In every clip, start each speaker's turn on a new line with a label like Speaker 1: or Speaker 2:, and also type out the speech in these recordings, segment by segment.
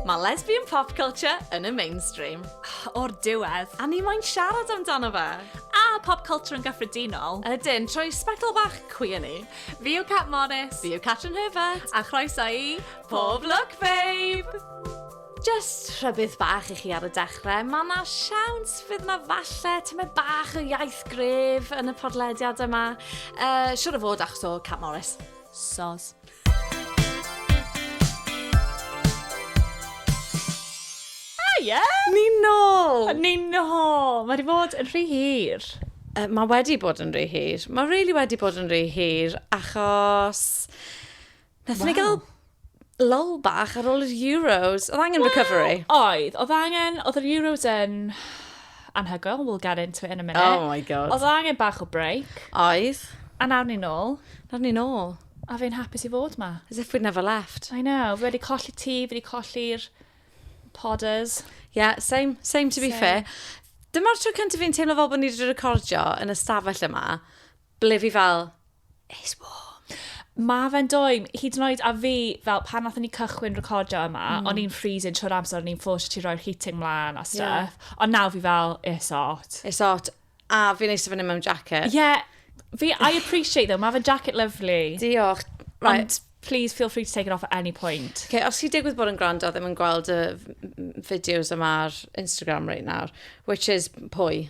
Speaker 1: Mae lesbian pop culture yn y mainstream. O'r diwedd, a ni moyn siarad amdano fe. A pop culture yn gyffredinol. Ydyn, trwy sbectol bach queer ni. Fi yw Cat Morris. Fi yw Catrin Herbert. A chroeso i Pob Lwc Babe! Jyst rhybudd bach i chi ar y dechrau, mae yna siawns fydd yna falle tymed bach o iaith gref yn y podlediad yma. Uh, siwr o fod achos o Cat Morris. Sos. ie! Ni'n nôl! Ni'n nôl! Mae wedi bod yn rhy hir. Uh, mae wedi bod yn rhy hir. Mae really wedi bod yn rhy hir, achos... Nath ni gael lol bach ar ôl yr Euros. Oedd angen recovery. Oedd, oedd angen, oedd yr Euros yn anhygoel, we'll get into it in a minute. Oh my god. Oedd angen bach o break. Oedd. A nawr ni'n ôl. Nawr ni'n ôl. A fi'n hapus i fod ma. As if we'd never left. I know, fi wedi colli ti, fi wedi colli'r podders. Yeah, same, same to be fair. Dyma'r tro cyntaf fi'n teimlo fel bod ni wedi recordio yn y stafell yma. Ble fi fel, It's warm. Ma fe'n dwym, hyd yn oed a fi, fel pan nathon ni cychwyn recordio yma, mm. o'n i'n freezing trwy'r amser, o'n i'n ffwrst ti roi'r heating mlaen a stuff. Yeah. Ond nawr fi fel, it's hot. It's hot. A fi'n eistedd fyny mewn jacket. Yeah. Fi, I appreciate though, ma fe'n jacket lovely. Diolch. Right. Ond please feel free to take it off at any point. Okay, os ti digwydd bod yn gwrando ddim yn gweld y fideos yma ar Instagram right nawr, which is pwy?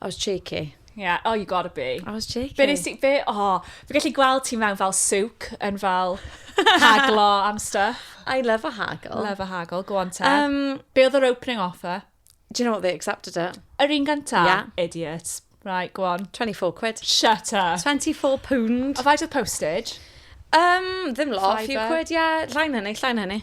Speaker 1: I was cheeky. Yeah, oh, you gotta be. I was cheeky. Be nes i, be, oh, fi gallu gweld ti mewn fel souk yn fel haglo am stuff. I love a haggle. Love a haggle, go on te. Um, be oedd yr opening offer? Do you know what, they accepted it. Yr un gynta? Yeah. Idiots. Right, go on. 24 quid. Shut up. 24 pound. A faint oedd postage? Um, ddim lot, few quid, yeah. Llain hynny, llain hynny.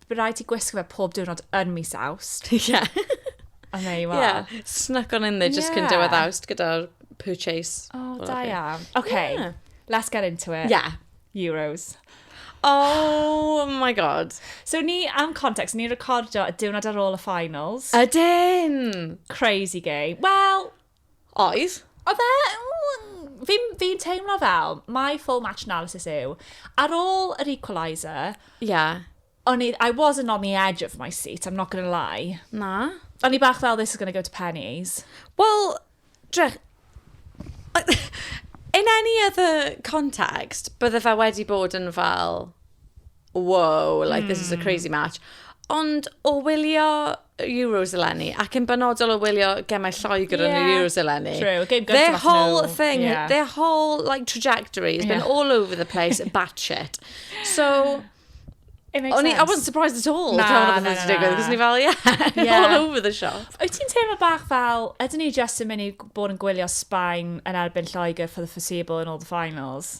Speaker 1: Bydd rhaid ti gwisgo fe pob diwrnod yn mis awst. Ie. Yeah. A neu wa. Yeah. Snuck on in there just yeah. cyn diwedd awst gyda'r purchase. Oh, da iawn. Okay. Yeah. Let's get into it. Yeah. Euros. Oh my god. So ni, am context, ni recordio y diwrnod ar ôl y finals. Ydyn! Crazy game. Wel, Oedd. Oedd e? Ww! Fi'n, fi'n teimlo fel, my full match analysis yw, ar ôl yr equaliser... Ie. ...o'n i, I wasn't on the edge of my seat, I'm not going to lie. Na? O'n i bach fel, this is going to go to pennies. Wel, drych- in any other context, bydde fe wedi bod yn fel... wow, like mm. this is a hmm. crazy match. Ond o wylio Euros eleni, ac yn benodol o wylio gemau Lloegr yn yeah. y Euros eleni. True, game good Their whole thing, yeah. their whole like, trajectory has yeah. been all over the place, batshit. So, It makes sense. I wasn't surprised at all. Na, na, na, na. Because ni fel, yeah, yeah, all over the shop. Wyt ti'n teimlo bach fel, ydyn ni just yn mynd i bod yn gwylio Sbaen yn erbyn Lloegr for the foreseeable in all the finals?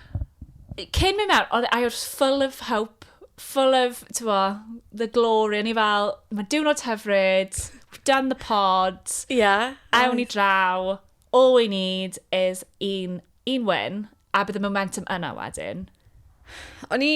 Speaker 1: cyn mynd mewn, oedd I was full of hope, full of, ti'n fo, the glory, o'n i fel, mae diwrnod hyfryd, we've done the pods, yeah, awn i draw, all we need is un, un win, a bydd y momentum yna wedyn. O'n i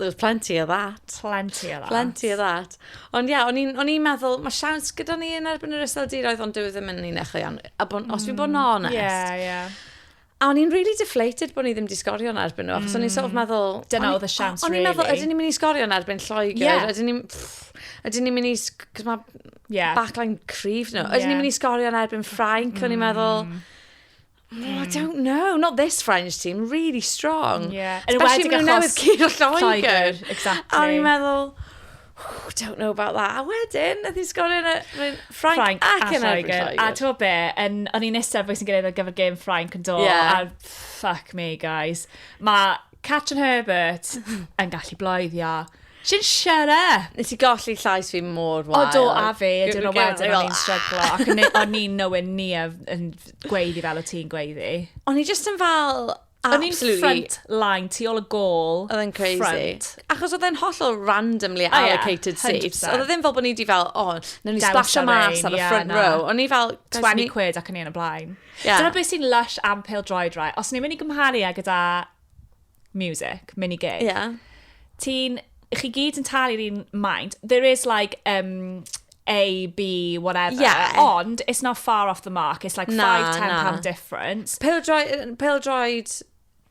Speaker 1: There was plenty of that. Plenty of that. Plenty of that. Ond ia, yeah, o'n i'n o'n i'n meddwl, mae siawns gyda ni yn erbyn yr iseldiroedd, ond dwi e ddim yn un eich iawn. A bon, os fi'n bod yn mm, honest. Yeah, yeah. A o'n i'n really deflated bod ni ddim wedi sgorio yn erbyn nhw, achos o'n i'n sort of mm. meddwl... Dyna oedd y siawns, really. O'n i'n meddwl, ydyn ni'n mynd i sgorio yn erbyn Lloegr, yeah. ydyn ni'n... Ydyn ni'n mynd i... Cos mae yeah. backline cryf nhw. Ydyn yeah. ni'n mynd i sgorio yn erbyn Ffrainc, mm. o'n i'n meddwl... Mm. Oh, I don't know. Not this French team. Really strong. Yeah. Especially when nhw newydd cyn o Lloegr. Exactly. A fi'n meddwl, oh, don't know about that. A wedyn, oedd hi'n sgorio yn y Frank, Frank ac yn erbyn Lloegr. A ti'n be, yn, o'n i'n eistedd fwy sy'n gyda'i gyfer gêm Frank yn dod. Yeah. A fuck me, guys. Mae Catrin Herbert yn gallu bloeddio. Shin shut up! Nes i golli llais fi mor wael. O do, a fe, dyn o wedyn o'n i'n stryglo. Ac o'n i'n nowyn ni yn gweiddi fel o ti'n gweiddi. O'n i just yn fel... O'n i'n front line, tu ôl y gol. Oedd e'n crazy. Front. Achos oedd e'n hollol randomly oh, allocated yeah, seats. Oedd e ddim fel bod ni wedi fel, o, oh, newn ni splasho mas ar y front yeah, row. O'n i fel... 20 quid ac o'n i yn y blaen. Yeah. Dyna beth sy'n lush am pale dried, right? Os ni'n mynd i gymharu e gyda music, mini gig, yeah. ti'n, chi gyd yn talu'r un maint. There is like, um, A, B, whatever. Yeah. Ond, it's not far off the mark. It's like na, 5, 10 na. pound difference. Pale dried, pale dried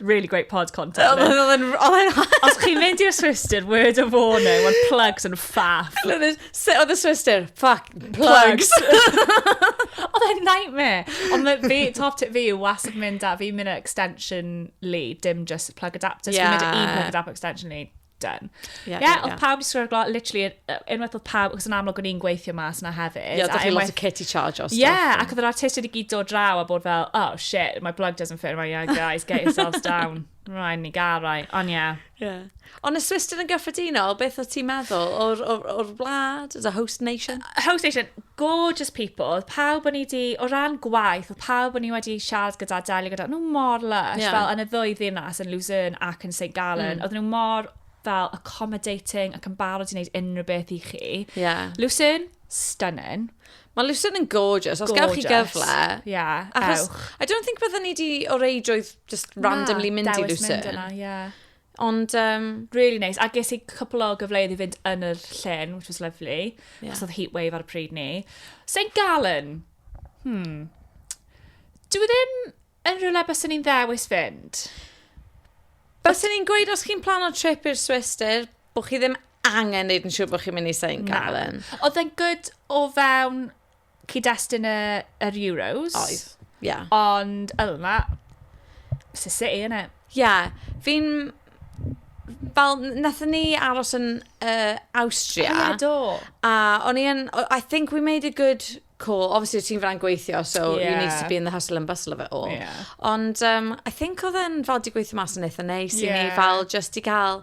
Speaker 1: really great pod content. Os chi'n mynd i'r Swister, word of warning, want plugs and faff. Sut oedd y Swister? Fuck, plugs. oedd e'n nightmare. Ond mae fi, top tip fi yw was of mynd a fi'n mynd extension lead, dim just plug adapter. Yeah. Fi'n mynd un plug adapter extension lead. done. Ie, yeah, yeah, yeah. oedd pawb di sgwrio'r glo, literally, unwaith oedd pawb, achos yn amlwg o'n i'n gweithio mas yna hefyd. Ie, yeah, dych lot o kitty charge o stuff. Ie, yeah, ac oedd yr artistiaid i gyd dod draw a bod fel, oh shit, my plug doesn't fit, right, yeah, guys, get yourselves down. Rhaid ni gael rai, ond ie. Yeah. Yeah. Ond y Swiston yn gyffredinol, beth o ti'n meddwl o'r, or, or wlad, as a host nation? Uh, host nation, Gorgeous people, oedd pawb o'n i di, o ran gwaith, oedd pawb o'n i wedi siarad gyda, delio gyda, nhw mor lush, yeah. fel yn y ddwy ddinas, yn Luzern ac yn St Gallen, mm. oedd nhw mor fel accommodating ac yn barod i wneud unrhyw beth i chi. Yeah. Luzern, stunning. Mae Lucerne yn gorgeous, os gawch chi gyfle. Yeah, Achos, ewch. I don't think byddwn ni wedi o reidrwydd just randomly Na, mynd i Lucerne. Dewis mynd yna, yeah. Ond, um, really nice. A ges i cwpl o gyfleoedd i fynd yn yr llyn, which was lovely. Yeah. Os oedd heat wave ar y pryd ni. St Gallen. Hmm. Dwi e ddim yn rhywle bys ni'n ddewis fynd. Bys ni'n gweud os chi'n plan o trip i'r Swister, bod chi ddim angen neud yn siŵr bod chi'n mynd i St Gallen. Oedd e'n good o fewn cyd-destun y, yr Euros. Oedd, ie. Ond oedd 'na, Manchester City, innit? Ie, fi'n, fel, n- nathon ni aros yn yy Awstria. O ie, do. A o'n i yn, o- I think we made a good call. Obviously, o' ti'n fan'na'n gweithio, so you need to Ie. be in the hustle and bustle of it all. Ie. Ond yym, I think oedd e'n fel 'di gweithio mas yn eitha neis i ni... Ie. ...fel jyst i cael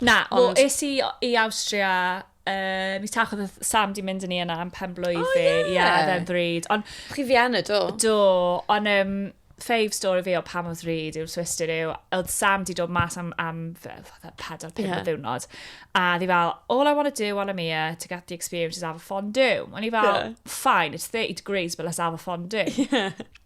Speaker 1: Na, wel, Ond- es i i Awstria yy, mis Tachwedd, oedd Sam di mynd yn ni yna am pen blwydd O, fi. ie. Ie, oedd e'n ddrud. Ond Chi Fianna, do? do, ond um, fave story fi o pam oedd ddrud yw'r Swiss did yw, oedd Sam di dod mas am, am fe- fatha pedwar, pum Ie. yeah. ddiwrnod. A di fel, all I want to do while I'm here to get the experience is have a fondue. O'n i fel, Ie. fine, it's 30 degrees, but let's have a fondue.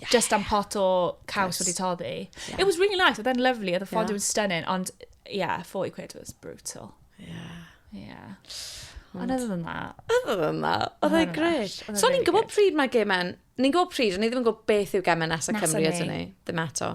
Speaker 1: Yes. Just am pot o caws yes. wedi toddi. Yeah. It was really nice, oedd e'n lovely, oedd y ffodio yeah. yn stunning, ond, yeah, 40 quid was brutal. Yeah. Yeah. Ond oedd yna. Oedd yna. yma. Oedd e'n gret. So ni'n gwybod pryd mae gemen... Ni'n gwybod pryd, ond ni ddim yn gwybod beth yw gemen nesaf Cymru ydyn ni. Ddim eto.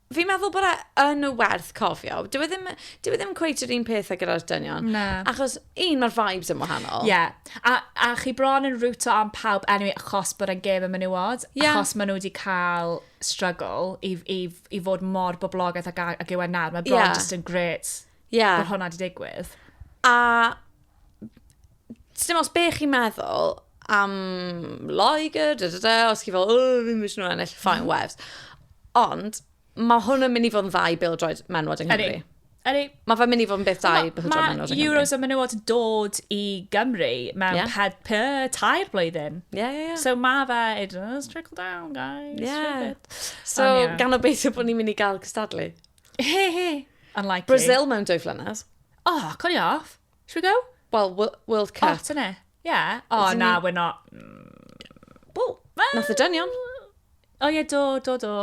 Speaker 1: Fi'n meddwl bod e yn y werth cofio. Dyw e ddim, dyw e ddim cweit yr un peth ag yr arall dynion. Na. Achos, un, mae'r vibes yn wahanol. Ie. Yeah. A, a chi bron yn rwto am pawb anyway achos bod e'n gêm y menywod. Ie. Yeah. Achos maen nhw wedi cael struggle i, i, i fod mor boblogaeth ag, ag yw e nawr. Mae bron yeah. just yn gret yeah. bod hwnna wedi digwydd. A Dim os be chi'n meddwl am Loegr, da da da, os chi fel, o, fi'n mynd nhw'n ennill, fine, mm. wefs. Ond, mae hwn yn mynd i fod yn dda i bildroed menwod yng Nghymru. Ydy. Ydy. Mae fe'n mynd i fod yn beth da i bildroed menwod yng Nghymru. Mae Euros a menywod yn dod i Gymru mewn yeah. ped, pe, tair blwyddyn. Yeah, yeah, yeah. So mae fe, it does trickle down, guys. Yeah. So, um, yeah. gan obeithio bod ni'n mynd i gael cystadlu. He, he. Unlikely. Brazil mewn dwy flynedd. Oh, codi off. Should we go? Wel, World Cup. Hot, yna. Ie. O, na, we're not. Wel, nath y dynion. O ie, do, do, do.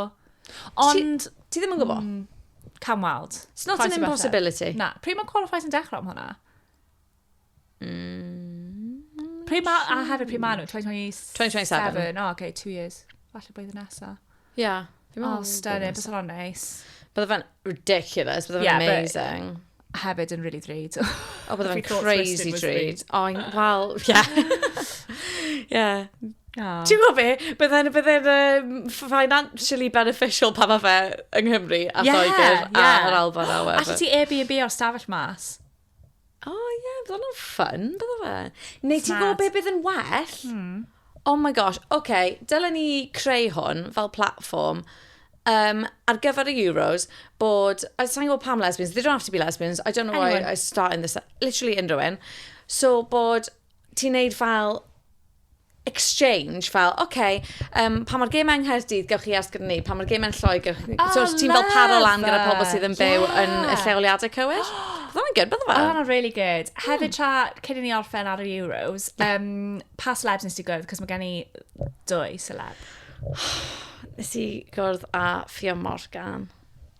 Speaker 1: Ond... Ti ddim yn gwybod? Mm, can weld. It's not an impossibility. Na, pryd mae qualifies yn dechrau am hwnna? Mm, pryd mae, a hefyd pryd mae nhw? 2027? 2027. Oh, okay, two years. Falle blwyddyn nesaf. Ie. Yeah, fi'n meddwl... Os da ni, bys hwnna'n neis. Bydde fe'n ridiculous, bydde fe'n yeah, amazing. But, hefyd yn really ddrud. o, oh, bydde fe'n crazy ddrud. O, wel, ie. Ie. Ti'n gwybod be? Bydde'n bydde um, financially beneficial pa mae fe yng Nghymru a yeah, Lloegr yeah. a'r Alban a wefr. Alla ti Airbnb o'r stafell mas. O oh, ie, yeah, bydd o'n ffyn, bydde fe. Neu ti'n gwybod beth bydd yn well? Mm. Oh my gosh, oce, okay, dylen ni creu hwn fel platform um, ar gyfer y Euros bod, a sa'n gwybod pam lesbians, they don't have to be lesbians, I don't know Anyone. why I start in this, literally unrhyw un. So bod ti'n neud fel exchange fel, ok, um, pa mae'r gemau yng Nghaerdydd, gewch chi asgwrn ni, pa mae'r gemau yn Lloyd, gewch chi... Oh, so, ti'n fel paro lan gyda pobl sydd yn byw yeah. yn y lleoliadau cywir. Bydde hwnna'n good, bydde fe? Oh, hwnna'n really good. Mm. Hefyd tra, cyn i ni orffen ar y Euros, yeah. um, pa celebs nes ti gwrdd? Cos mae gen i dwy celeb. nes i gwrdd a Fia Morgan.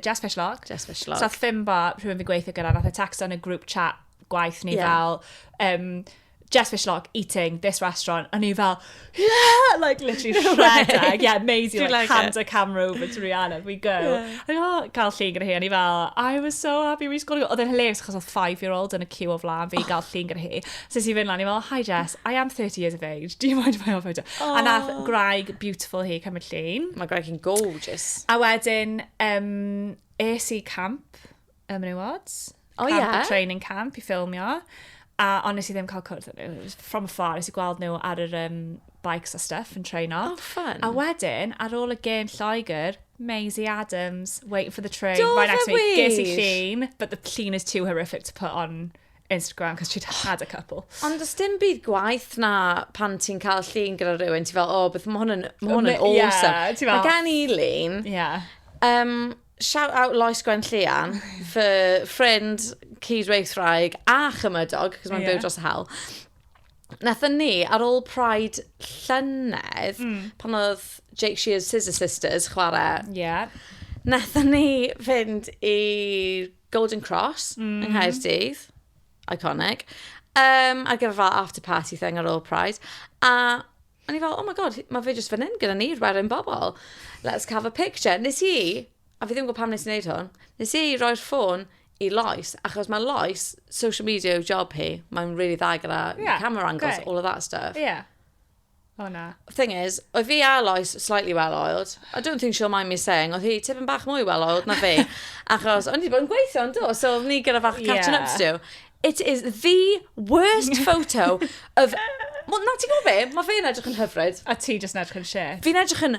Speaker 1: Jess Fishlock. Jess Fishlock. So, Fimbo, rhywun fi'n gweithio gyda, nath e texto yn y group chat gwaith ni yeah. fel, um, Jess Fishlock eating this restaurant, and you felt, yeah, like literally shredded. yeah, Maisie like, like hands a camera over to Rihanna, we go. Yeah. And oh, cael llun gyda hi, and he felt, I was so happy we scored. Oedd e'n hilarious achos oedd five-year-old yn y queue o flan fi, oh. gael llun gyda hi. Ces i fynd lan, i fel, hi Jess, I am 30 years of age, do you mind if I have a photo? A nath gwraig beautiful hi cymryd llun. Mae gwraig hi'n gorgeous. A wedyn, um, es i camp ym Menywod. O ie? Camp, training camp i ffilmio. A ond nes i ddim cael cwrdd â nhw. From afar, nes i gweld nhw ar yr um, bikes a stuff yn traino. Oh, fun. A wedyn, ar ôl y gêm Lloegr, Maisie Adams, waiting for the train, Do right next to fe me. Ges i wir? llun, but the llun is too horrific to put on Instagram, cos she'd had a couple. Ond os dim byd gwaith na pan ti'n cael llun gyda rhywun, ti'n fel, o, oh, beth mae hwn yn awesome. Yeah, ti'n fel. Mae gen i lun. Yeah. Um, shout out Lois Gwen Llian for friend, cyd-weithraig a chymydog, cos mae'n yeah. byw dros y hel. Nethon ni, ar ôl Pride llynedd, mm. pan oedd Jake Shears Scissor Sisters chwarae. Yeah. Nethon ni fynd i Golden Cross yng Nghaerdydd. Iconic. Um, ar gyfer fel after party thing ar ôl Pride. A o'n i fel, oh my god, mae fe jyst fan hyn gyda ni'r werin bobl. Let's have a picture. Nes i, a fi ddim yn gwybod pam nes i wneud hwn, nes i roi'r ffôn i Lois, achos mae Lois, social media yw job hi, mae'n really dda gyda yeah, camera angles, great. all of that stuff. Yeah. O na. Thing is, oedd fi a Lois slightly well-oiled. I don't think she'll mind me saying, oedd hi tipyn bach mwy well-oiled na fi. Achos, o'n i bod yn gweithio yn do, so ni gyda fach catching up to. It is the worst photo of... Wel, na, ti'n gwybod be? Mae fe'n edrych yn hyfryd. A ti jyst yn edrych yn shit. Fi'n edrych yn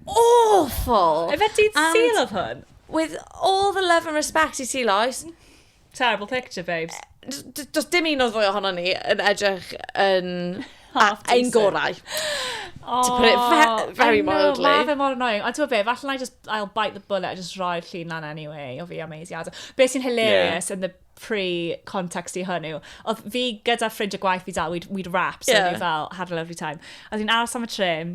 Speaker 1: awful. Efe ti'n seal of hwn? With all the love and respect i ti, Lois, Terrible picture, babes. Does dim un o'r ddwy ohono ni yn edrych yn ein gorau. Oh, to put it oh, very mildly. Mae fe mor annoying. Ond ti'n be, falle na i just, I'll bite the bullet a just roi'r llun lan anyway, o fi amaziadau. Be sy'n hilarious yeah. yn y pre-context i hwn yw, oedd fi gyda ffrind y gwaith fi dal, we'd, we'd rap, so yeah. ni fel, had a lovely time. Oedd hi'n aros am y trim,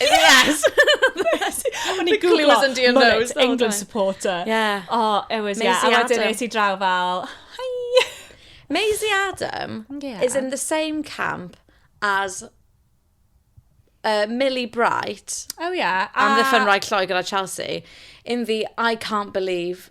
Speaker 1: Yes! O'n i'n gwybod. The clue was in England supporter. Yeah. Oh, it was, yeah. A wedyn nes i draw fel, hi! Maisie Adam yeah. is in the same camp as uh, Millie Bright. Oh, yeah. And the Fun Ride Lloyd gyda Chelsea. In the I can't believe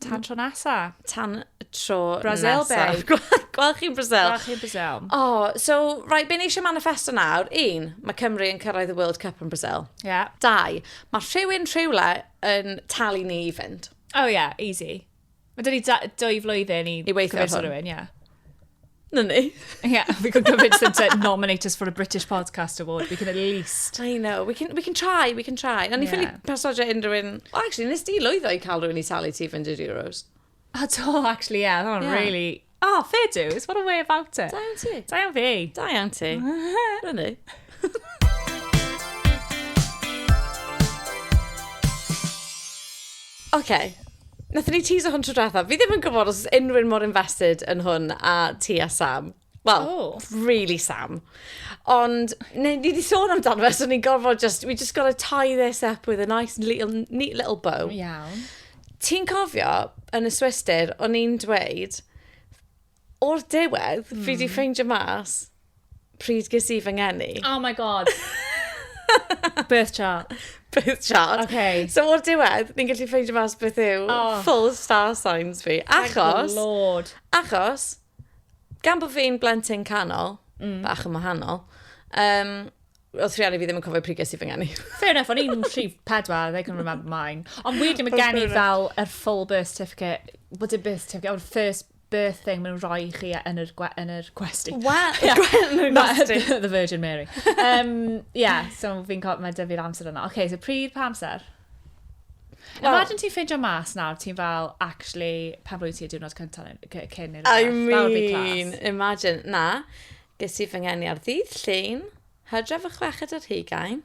Speaker 1: Tan y tro nesa. Tan y tro Brazil, nesa. Brazil, babe. Gweld chi'n Brazil. Gweld chi'n Brazil. O, oh, so, right, be ni eisiau manifesto nawr? Un, mae Cymru yn cyrraedd y World Cup yn Brazil. Ie. Yeah. Dau, mae rhywun rhywle yn talu ni i fynd. Oh, ie, yeah, easy. Mae dyn ni dwy flwyddyn i... I weithio ar hwn. Ie. Yeah. Na ni. Yeah, we could convince them to nominate us for a British Podcast Award. We can at least... I know, we can, we can try, we can try. Na ni ffili yeah. perswadio unrhyw un... Well, actually, nes di lwyddo i cael rhywun i talu ti 100 euros. A oh, do, actually, yeah, that one yeah. really... Oh, fair dues, what a way about it. Da iawn ti. Da iawn fi. Da iawn ti. Rynnu. okay, Nathon ni teaso hwn tro diwetha. Fi ddim yn gwybod os oes unrhywun mor invested yn hwn a ti a Sam. Wel, oh. really Sam. Ond, ni wedi sôn amdano fe, so ni'n gorfod just, we just gotta tie this up with a nice little, neat little bow. Iawn. Ti'n cofio, yn y Swistir, o'n i'n dweud, O'r diwedd, mm. fi di ffeindio mas pryd ges i fy ngeni. Oh my god. Birth chart. Birth chart. Okay. So o'r diwedd, ni'n gallu ffeindio mas beth yw oh. full star signs fi. Achos... Lord. Achos, gan bod fi'n blentyn canol, mm. bach yn wahanol, um, oedd rhieni fi ddim yn cofio pryd ges i fy ngeni. Fair enough, o'n i'n rhi pedwar, they can remember mine. Ond weirdly, mae gen i fel yr full birth certificate, bod y birth certificate, o'r first birth thing maen nhw'n rhoi i chi yn yr, gwe, yn yr gwesti. Wow, yeah. gwesti. the Virgin Mary. Um, yeah, so fi'n cofio, mae dyfu'r amser yna. Oce, okay, so pryd pa amser? Well, Imagine ti'n ffeindio mas nawr, ti'n fel, actually, pa fwy ti y diwrnod cyntaf cyn i'r I mean, imagine. Na, ges i fy ngeni ar ddydd llun, hydref y chweched ar hugain.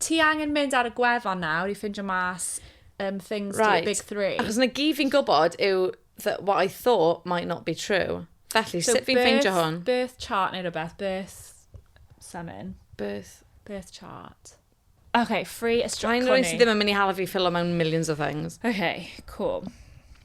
Speaker 1: ti angen mynd ar y gwefan nawr i ffindio mas um, things right. to big three. Achos na gyd fi'n gwybod yw that what I thought might not be true. Felly, so sut fi'n ffeindio hwn? Birth chart neu rhywbeth, birth semen. Birth. Birth chart. OK, free astronomy. Rwy'n rwy'n sydd ddim yn mynd i hala fi ffilo mewn millions of things. OK, cool.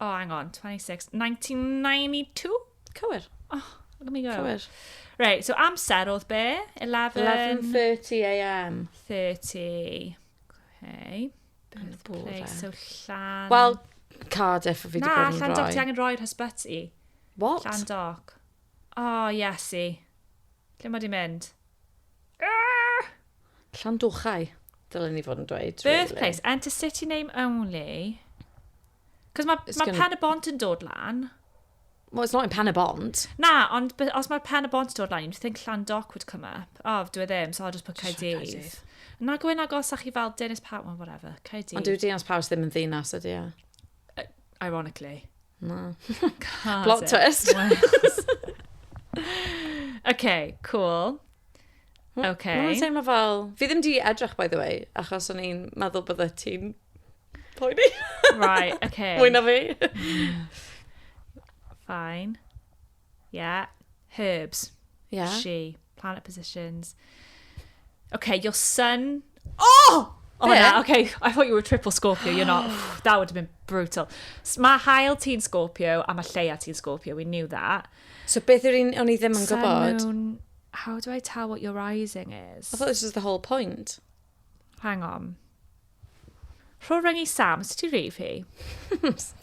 Speaker 1: Oh, hang on, 26, 1992? Cywir. Oh, look at me go. Cywir. Right, so amser oedd be? 11... 11.30am. 30. Okay. Birthplace, so llan... Wel, Cardiff o fi wedi bod yn rhoi. Na, llan doc, ti angen rhoi'r hysbyty. What? Llan doc. O, Iesu! Lle mae 'di mynd? Aah! Llanduchau, dylen ni fod yn dweud, really. Birthplace, enter city name only. Cos mae ma gonna... pen y bont yn dod lan. Well, it's not in pen y bont. Na, ond os mae pen y bont yn dod lan, you'd think Llandoc would come up. Oh, dwi e ddim, so I'll just put Caerdydd. Na gwyn agosach i fel Dennis Powell, whatever, Caerdydd. Ond dwi Dennis Powell ddim yn ddinas ydi e? ironically. Na. Plot twist. OK, cool. Hmm, OK. Mae'n teimlo fel... Fi ddim di edrych, by the way, achos o'n i'n meddwl bydde ti'n poeni. right, OK. Mwy na fi. Fine. Yeah. Herbs. Yeah. She. Planet positions. Okay, your sun... Oh! Oh, Be? na, okay. I thought you were triple Scorpio. You're not. that would have been brutal. S- Mae hael ti'n Scorpio a mae lleia ti'n Scorpio. We knew that. So beth yw'r un o'n i ddim yn gwybod? Sun, moon, how do I tell what your rising is? I thought this was the whole point. Hang on. Rho reng i Sam, sut i reif hi?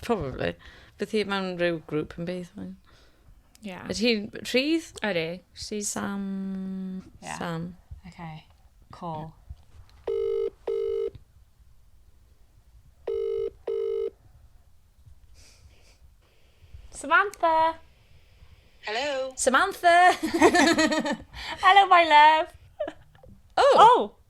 Speaker 1: Probably. Bydd hi mewn rhyw grŵp yn beth. Ie. Yeah. Ydy hi'n rhydd? Ydy. She's... Sam... Yeah. Sam. Okay. Cool. Samantha! Hello. Samantha! Hello, my love. Oh! Oh!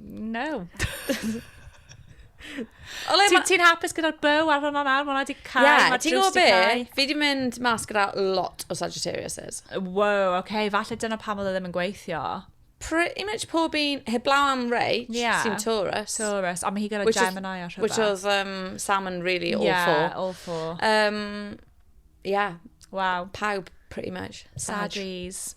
Speaker 1: No. Ti'n ti hapus gyda'r byw ar hwnna nawr? Mae'n wedi cael, yeah, mae ti'n gwybod be? Fi di mynd mas gyda lot o Sagittariuses. Wow, oce, okay, falle dyna pam oedd e ddim yn gweithio. Pretty much pob un, heblaw am Ray, yeah. sy'n Taurus. Taurus, a mae hi gyda Gemini a rhywbeth. Which oedd um, Salmon really awful. Yeah, awful. Um, yeah. Wow. Pawb, pretty much. Saggies.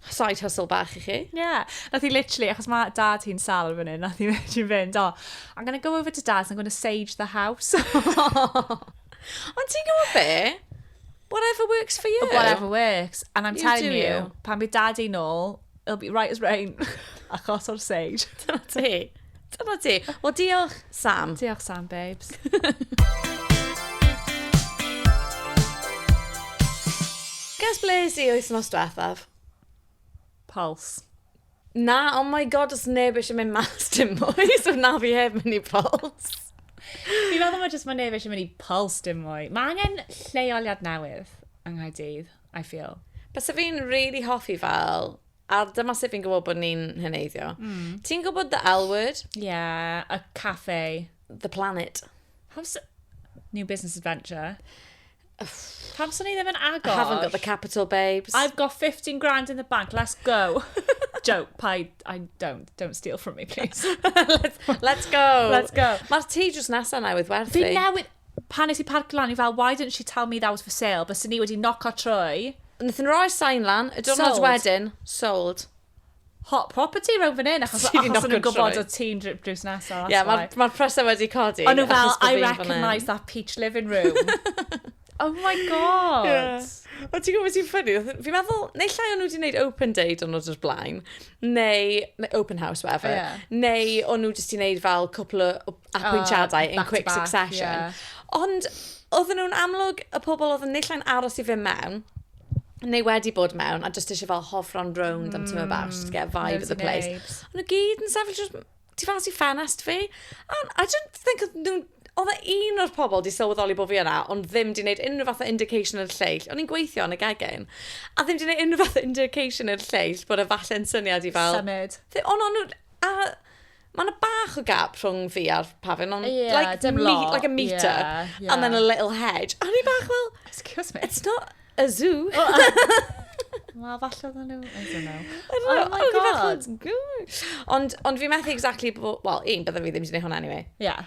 Speaker 1: side hustle bach i chi. Ie. Yeah. Nath hi literally, achos mae dad hi'n sal fan hyn, nath hi literally fynd, oh, I'm going to go over to dad's, I'm going to sage the house. Ond ti'n gwybod be? Whatever works for you. Oh, whatever works. And I'm you telling you, you, pan bydd dad i'n ôl, it'll be right as rain. achos o'r sage. Dyna ti. Dyna ti. Wel, diolch, Sam. Diolch, Sam, babes. Ges bles i wythnos diwethaf. Pals. Na, oh my god, os neb eisiau mynd mas dim mwy, so na fi heb mynd i pals. Fi meddwl mae jyst mae neb eisiau mynd i pals dim mwy. Mae angen lleoliad newydd yng Nghaerdydd, I feel. Bys fi'n really hoffi fel A dyma sut fi'n gwybod bod ni'n heneiddio. Mm. Ti'n gwybod the L word? Yeah, a cafe. The planet. Pam sa... New business adventure. Pam sa ni ddim yn agor? I haven't got the capital, babes. I've got 15 grand in the bank, let's go. Joe, pai, I don't, don't steal from me, please. let's, let's go. Let's go. Mae'r ti jyst nesaf newydd werthu. Fi newydd, Pan nes i parcio lan, o'n i fel why didn't she tell me that was for sale, bysen ni wedi noco trwy. Nathon nhw roi'r sign lan, y diwrnod wedyn, sold. Hot property rownd fan hyn, achos o'n nhw'n gwybod o ti'n drws nesaf, that's why. Ie, mae'r prysau wedi codi. O'n nhw fel, I recognise that peach living room. oh my god! O, ti'n gwybod ti'n ffynnu? Fi'n meddwl, neu llai o'n nhw wedi gwneud open day o'n nhw'n dod blaen, neu, open house, whatever, yeah. neu o'n nhw wedi gwneud fel cwpl o apwyntiadau uh, in quick back, succession. Yeah. Ond oedden nhw'n amlwg y pobl oedd yn neilla'n aros i fynd mewn, neu wedi bod mewn, a just eisiau fel hofro'n rownd mm, am tyma bach, just get a vibe of the place. Ond nhw gyd yn sefyll just, ti fas i ffenest fi? And I don't think nhw'n Oedd e un o'r pobl di sylweddoli bod fi yna, ond ddim di wneud unrhyw fath o indication yn lleill. O'n i'n gweithio yn y gegin. A ddim di wneud unrhyw fath o indication yn lleill bod e falle yn syniad i fel... Symud. Ond o'n nhw... A Mae yna bach o gap rhwng fi a'r pafin, ond yeah, like, dim lot. Meet, like a meter, yeah, yeah. and then a little hedge. A ni bach fel... Excuse me. It's not a zoo. Oh, Wel, falle oedden nhw... I don't know. I don't know. Oh my oh, god. Ond, ond fi methu exactly... Wel, un, byddai fi ddim wedi gwneud hwnna anyway. Yeah.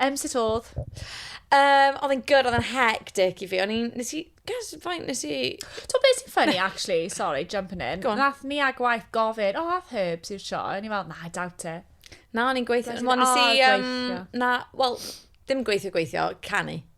Speaker 1: Yym, sut oedd? Um, oedd yn gyrraedd yn hectic i fi. O'n i'n... Nes i... Gas, faint nes i... To beth sy'n ffynnu, actually, sorry, jumping in. Go on. Nath mi a gwaith gofyn, oh, ath herbs i'r sioe. O'n i'n fel, na, I doubt it. Na, o'n i'n gweithio. Nes i, um, na, wel, ddim gweithio gweithio, canu.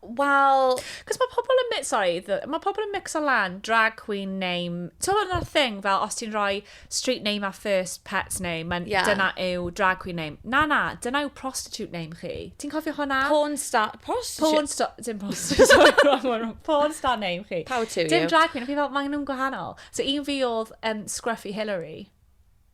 Speaker 1: Wel... Cos mae pobl yn mynd... Sorry, mae pobl yn mixo lan drag queen name. Ti'n gwybod yna'r thing fel os ti'n rhoi street name a first pet's name, mae'n yeah. dyna yw drag queen name. Na, na, dyna yw prostitute name chi. Ti'n cofio hwnna? Porn star... Prostitute? Porn star... Dim prostitute, sorry, wrong one. Porn star name chi. Power to you. Dim drag queen, fi fel, maen nhw'n gwahanol. So un fi oedd um, Scruffy Hillary.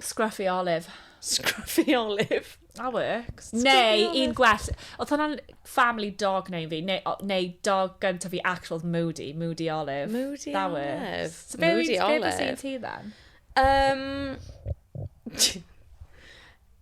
Speaker 1: Scruffy olive. Scruffy olive. That works. Neu un gwell. Oedd hwnna'n family dog neu fi, neu, neu dog gyntaf fi actual oedd Moody, Moody Olive. Moody That Olive. Works. So Moody Olive. Be was un ti then? Um,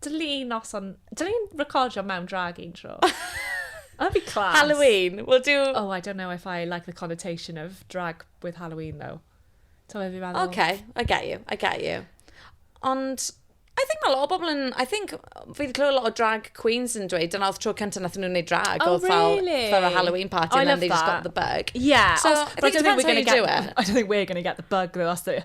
Speaker 1: Dyle un noson... Dyle un recordio mewn drag un tro. That'd be class. Halloween. We'll do... Oh, I don't know if I like the connotation of drag with Halloween, though. Ti'n meddwl fi meddwl? Okay, I get you, I get you. Ond, I think mae lot o bobl yn... I think, fi wedi clywed lot o drag queens yn dweud, dyna oedd tro cyntaf nath nhw'n neud drag. Oh, really? Fel a Halloween party, oh, and then they that. just got the bug. Yeah. So, I think it depends how you do it. I don't think we're going to get the bug, though. That's the...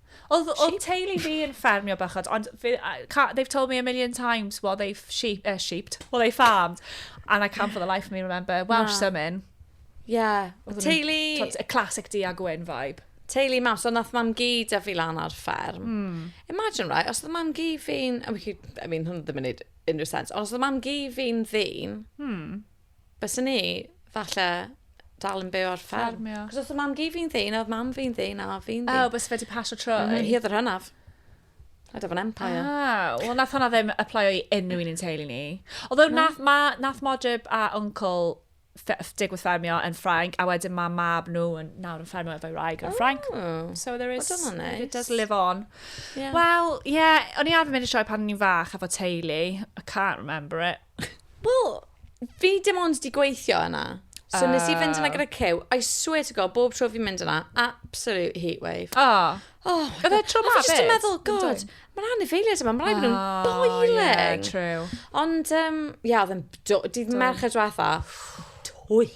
Speaker 1: Oedd, oedd Sheep? teulu fi yn ffermio bychod, ond fi- I can't- they've told me a million times what they've sheep, uh, sheeped, what they farmed, and I can't for the life of me remember. Welsh Na. summon. Yeah. Oedden nhw'n- Teulu, T'od, y classic du a gwyn vibe. teulu mam, so nath mam gi da fi lan ar fferm. Hmm. Imagine, right, os oedd mam gi fi'n... I mean, I mean, hwn ddim yn neud unrhyw sens, ond os oedd mam gi fi'n ddyn, Hmm. Bysen ni, falle, dal yn byw ar fferm. Ffermio. Cos oedd mam gi fi'n ddyn, oedd mam fi'n ddyn, a fi'n ddyn. Oh, bys fe di pasio trwy. Mm, hi oedd yr hynaf. I'd have an empire. Ah, wel nath hwnna ddim applio i unrhyw un i'n teulu ni. Although no. nath, ma, nath Modib a Uncle digwydd ffermio yn Ffrainc, a wedyn mae mab nhw yn nawr yn ffermio efo'i wraig yn Ffrainc. Oh. So there is, well, nice. it does live on. Yeah. Wel, ie, yeah, o'n i arfer mynd i sioe pan o'n i'n fach efo teulu. I can't remember it. Wel, fi dim ond di gweithio yna. So uh... nes i fynd yna gyda Cew, I swear to God, bob tro fi'n mynd yna, absolute heat wave. Oh. Oh, Oedd e tro ma beth? A fi jyst yn meddwl, God, mae'n anifeiliaid yma, mae'n rhaid bod nhw'n oh, boiling. Yeah, true. Ond, um, ia, oedd yn dydd merched diwetha, twym.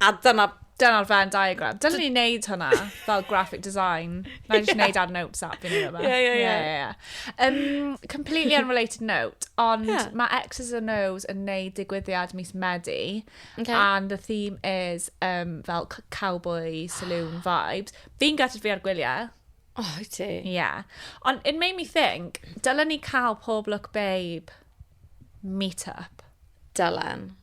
Speaker 1: A dyna dyna'r Venn diagram. Dylen ni wneud hwnna fel graphic design. Na i just wneud ar notes app fi'n rhywbeth. Ie, ie, ie. Um, completely unrelated note, ond yeah. mae X's and O's yn neud digwyddiad mis Medi, okay. and the theme is um, fel cowboy saloon vibes. Fi'n gutted fi ar gwyliau. Oh, ti? Yeah. Ond it made me think, dylen ni cael pob look babe meet-up. Dylan.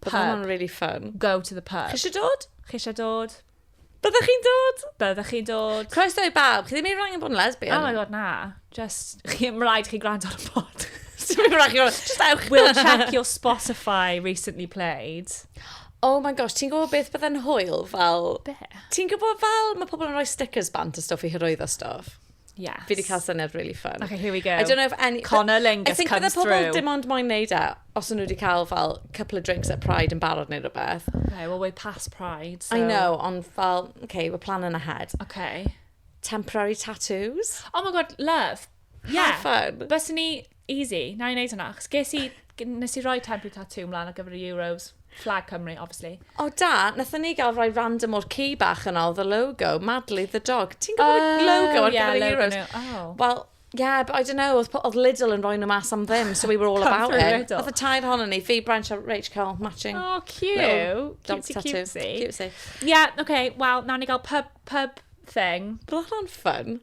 Speaker 1: Pub. Bydde hwnna'n really fun. Go to the pub. Chi eisiau dod? Chi eisiau dod? Byddech chi'n dod? Byddech chi'n dod? Croeso i bawb. Chi ddim i rhaid yn bod yn lesbian. Oh my god, na. Just, chi, mae'n rhaid chi gwrando ar y pod. Just ewch. We'll check your Spotify recently played. Oh my gosh, ti'n gwybod beth byddai'n hwyl fel... Be? Ti'n gwybod fel, mae pobl yn rhoi stickers bant a stof i hyrwyddo stof. Yes. Fi wedi cael syniad really fun. Okay, here we go. I don't know if any... Connor Lingus comes through. I think bydde pobl dim ond moyn neud e os nhw wedi cael fel couple of drinks at Pride yn barod neu rhywbeth. Okay, well we're past Pride, so... I know, ond fel, okay, we're planning ahead. Okay. Temporary tattoos. Oh my god, love. Yeah. Have fun. Bys ni Easy, na i wneud hwnna, achos ges i, nes i roi temporary tattoo mlaen ar gyfer y Euros, flag Cymru, obviously. O da, nathon ni gael rhoi random o'r ci bach yna, oedd y logo, Madly the dog. Ti'n gwybod oh, y logo ar yeah, gyfer y Euros? Oh. Well, yeah, but I don't know, oedd, oedd Lidl yn rhoi nhw mas am ddim, so we were all about it. Oedd y tair hon ni, fi, Branch a Rach Cole, matching. Oh, cute. Little dog cutesy, tattoo. Cutesy. Cutesy. Yeah, okay, well, nawn ni gael pub, pub thing. Bydd hwnna'n ffyn.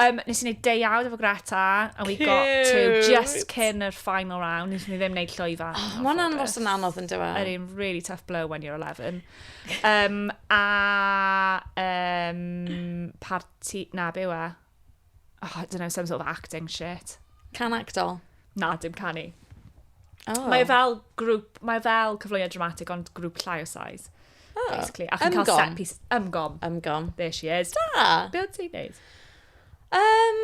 Speaker 1: Yym, nes i wneud deuawd efo Greta, and we got to Ciwt! just cyn yr final round, nes i ni ddim wneud llwyfan. yn Mae hwnna'n anffodus. wastad yn anodd yn dyw e. Yr un really tough blow when you're 11. Um, a um, parti... Na, be yw e? Oh, I don't know, some sort of acting shit. Can actol. Na, dim canu. Oh. Mae fel grŵp, mae fel cyflwyniad dramatic ond grŵp llai o size. Oh. Basically. Ac yn cael set piece. Ymgom. Ymgom. There she is. Da. Be oedd ti'n neud? Um,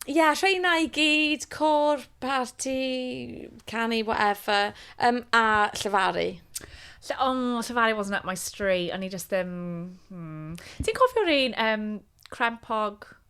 Speaker 1: Ie, yeah, rheina i gyd, cor, party, canu, whatever, um, a llefaru. Lle, oh, llefaru wasn't up my street, o'n i just ddim... Hmm. Ti'n cofio'r un um, crempog